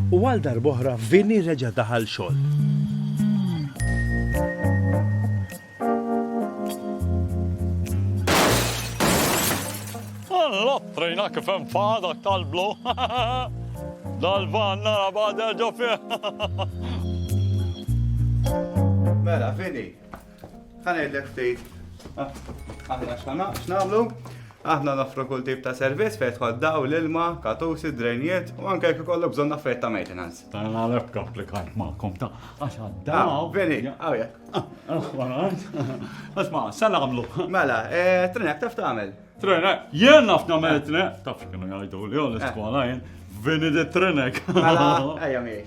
U għal darb'oħra Vinny reġa' daħal xogħol. L-ottrina kif hemm fadak tal-blu. Dal-van nara bada ġo fih. Mela, Vinny, Ħanedlek ftit. Ah, aħna x'nagħmlu? Aħna nafru kull tip ta' servizz fejn tħol daw l-ilma, katusi, drejniet u anke jekk ikollu bżonn affarijiet ta' maintenance. Ta' nagħraf komplikant magħkom ta' għax għaddaw. Ah, veri, għawja. Asma, sa nagħmlu. Mela, eh, trenek taf tagħmel. Trenek, jien naf nagħmel trenek, taf kienu jgħidu li għol iskola jien, vini di trenek. Mela, ejja miegħi.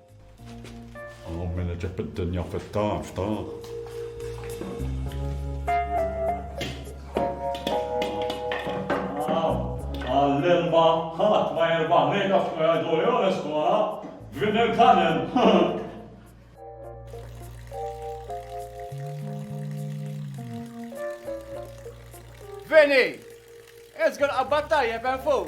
Għom minn ġib id-dinja fit-taf ta' Għall-ilma ħadd ma jirbaħ minn għaf ma jgħidu li għon iskola, vin il-kanem. Vini! Ezgur qabbat tajjeb hemm fuq.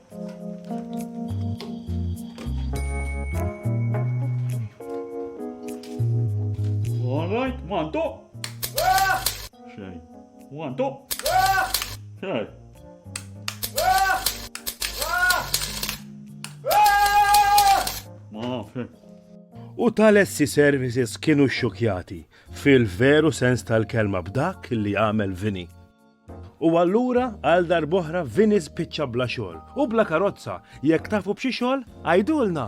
All right, one, two. Xej. One, two. Xej. Ma, xej. U tal-essi services kienu xxukjati fil-veru sens tal-kelma b'dak li għamel vini. U allura għal darb'oħra Vinny spiċċa bla xogħol u bla karozza, jekk tafu b'xi xogħol għidulna!